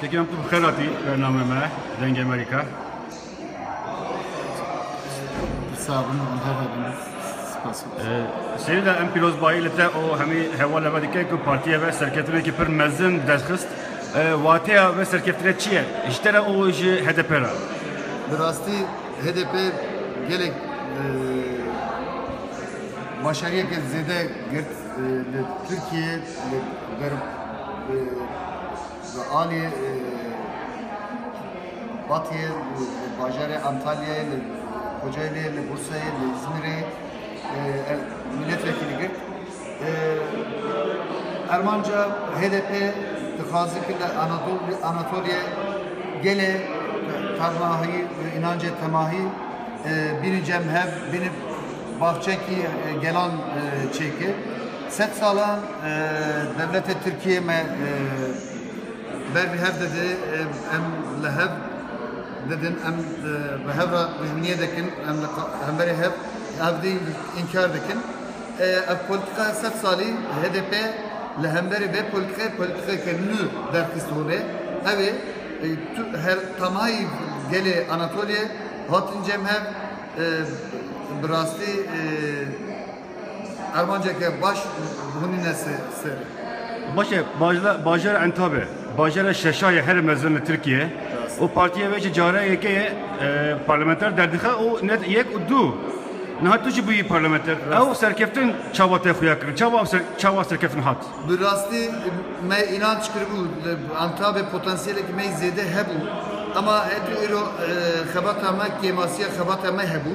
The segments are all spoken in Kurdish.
Tekem tu bixêr hatî bername me Dengê Amerîka. Sabin Hamdar Abin. Spas. Sêrî de em pîrozbayî li te û hemî hewala ve dike ku partiya ve serketinekî pir mezin derxist. Wateya ve serkeftinê çi ye? Ji te re û ji HDP re? Bi rastî HDP gelek başariyeke zêde girt li Tirkiyeyê li ber Li alî Batiyê, li bajarê Antalyayê, li Kocayliyê, li Bursayê, li Îzmîrê ev mîletvekîlî girt. Ermanca HDP dixwaze ki li Anatoliyê gelê tevahî û înancê temahî bînin cem hev bînin bavçekî gelan çêkir. Sed salan dewletê Tirkiyeyê me ber bi hev dide, em li hev didin, em bi hev re dijminiyê dikin, em li hemberî hev evdî înkar dikin. Ev polîtika sed salî HDP li hemberî vê polîtikayê polîtikeke nû derxist holê. Ew ê tu her tamayî gelê Anatoliyê hatin cem hev bi rastî Armanceke baş hûnîne ser. Başe bajara Entabe, bajara şeşa ye herê mezin li Tirkiyeyê û partiyê wê ji cara yekê ye parlamenter derdixe û ne yek û du niha tu jî bûyî parlamenter. Ew serkeftin çawa te xuya kirin? Çawa ew çawa serkeftin hat? Bi rastî me înanc kiribû li Entabê potansiyelekî me yî zêde hebû ema heto îro xebata me kêmasiya xebata me hebû.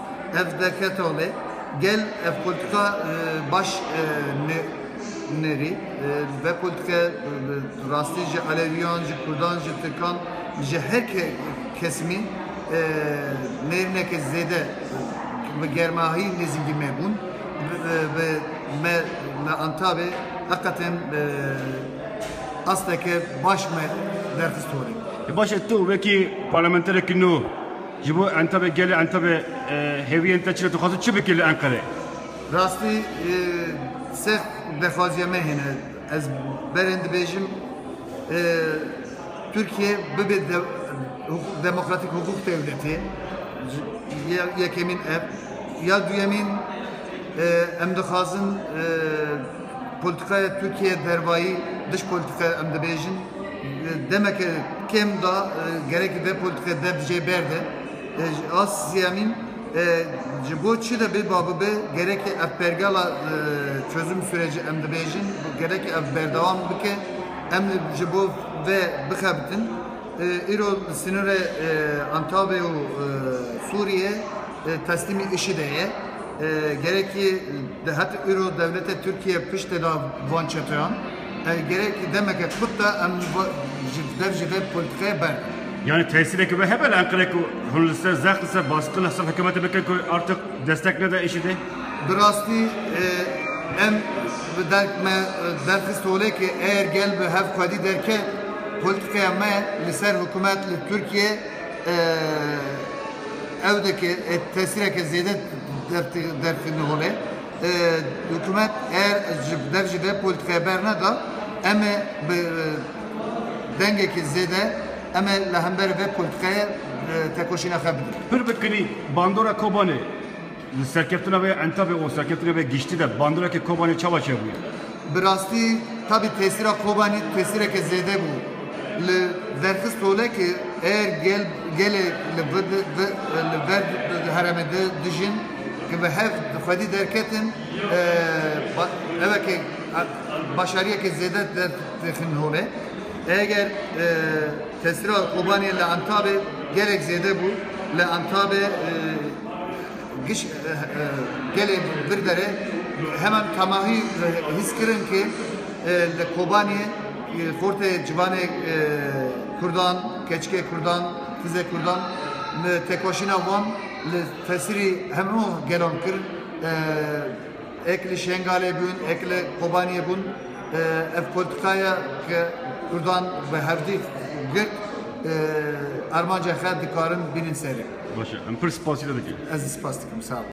Ev derket holê. Gel ev politika baş nêrî. Ve politike bi rastî ji Elewîyan, ji Kurdan, ji Tirkan, ji her kesimî nêrîneke zêde bi germahî nêzîngî me bûn. Bi me li Antabê heqetên asteke baş me derxist holê. Baş e tu wekî parlamenterekî nû, Ji bo Entebê gelê Entebê hêviyên te çi ne? Tu dixwazî çi bikî li Enqerê? Rastî sext bexwaziya me hene. Ez berên dibêjim Tirkiye bibe demokratîk hukûk dewletê. Yekemîn ev. Ya duyemîn em dixwazin Polîtîkaya Tirkiyeyê dervayî dij polîtîkaya em dibêjin demeke kêm da gerekî vê polîtîkaya dev jê berde. A sêyemîn ji bo çi de bê ba bibe gerekî ev pergala çözüm sûrecî em dibêjin gerekî ev berdewam bike em ji bo vê bixebitin. Îro li sinûrê Antawê û Sûriyê teslîmî IŞİD'ê ye. Gerekî Di heta îro dewleta Tirkiyê piştê da van çeteyan. Ev gerekî demeke kurt e em ji dev ji vê polîtîkayê berdin. Yanî tesîreke wê hebe li Enqereyê ku hûn li ser zext li ser baskil li ser hikûmetê bikin ku artiq destek neda IŞİD'ê? Bi rastî em bi derk me derxist holê ku eger gel bi hev xwedî derket polîtîkaya me li ser hikûmet li Tirkiyê, ew dike tesîreke zêde derxîne holê. Hikûmet eğer ji dev jî vê polîtikaya berneda em ê bi dengekî zêde em ê li hemberî vê polîtikayê tekoşîna xwe bidin. Pir bi kilî bandora Kobanê. Di serkeftina vê entebê û serkeftina vê giştî de bandoreke Kobanê çawa çêbûye? Bi rastî tabî tesîra Kobanê tesîreke zêde bû. Li derxist tole ke eger gel gelê li vir li vir heremê de dijîn ke bi hev xwedî derketin ev e ke başariyeke zêde dertêxin holê. Eger tesîra Kobanê li entabê gelek zêde bû li entabê Giş gelê Birbere heman tamahî hîs kirin ke li Kobaniyê xortê civanê Kurdan, keçikê Kurdan, tizê Kurdan têkoşîna wan li tesirî hemû gelan kir. Ek li Şengalê bûn, ek li Kobaniyê bûn. Ev politika ye ke Kurdan bi hevdî girt armanca xwe dikarin bînin serê. Baş e. Em pir spasî te dikin. Ez spas dikim. Sağ ol.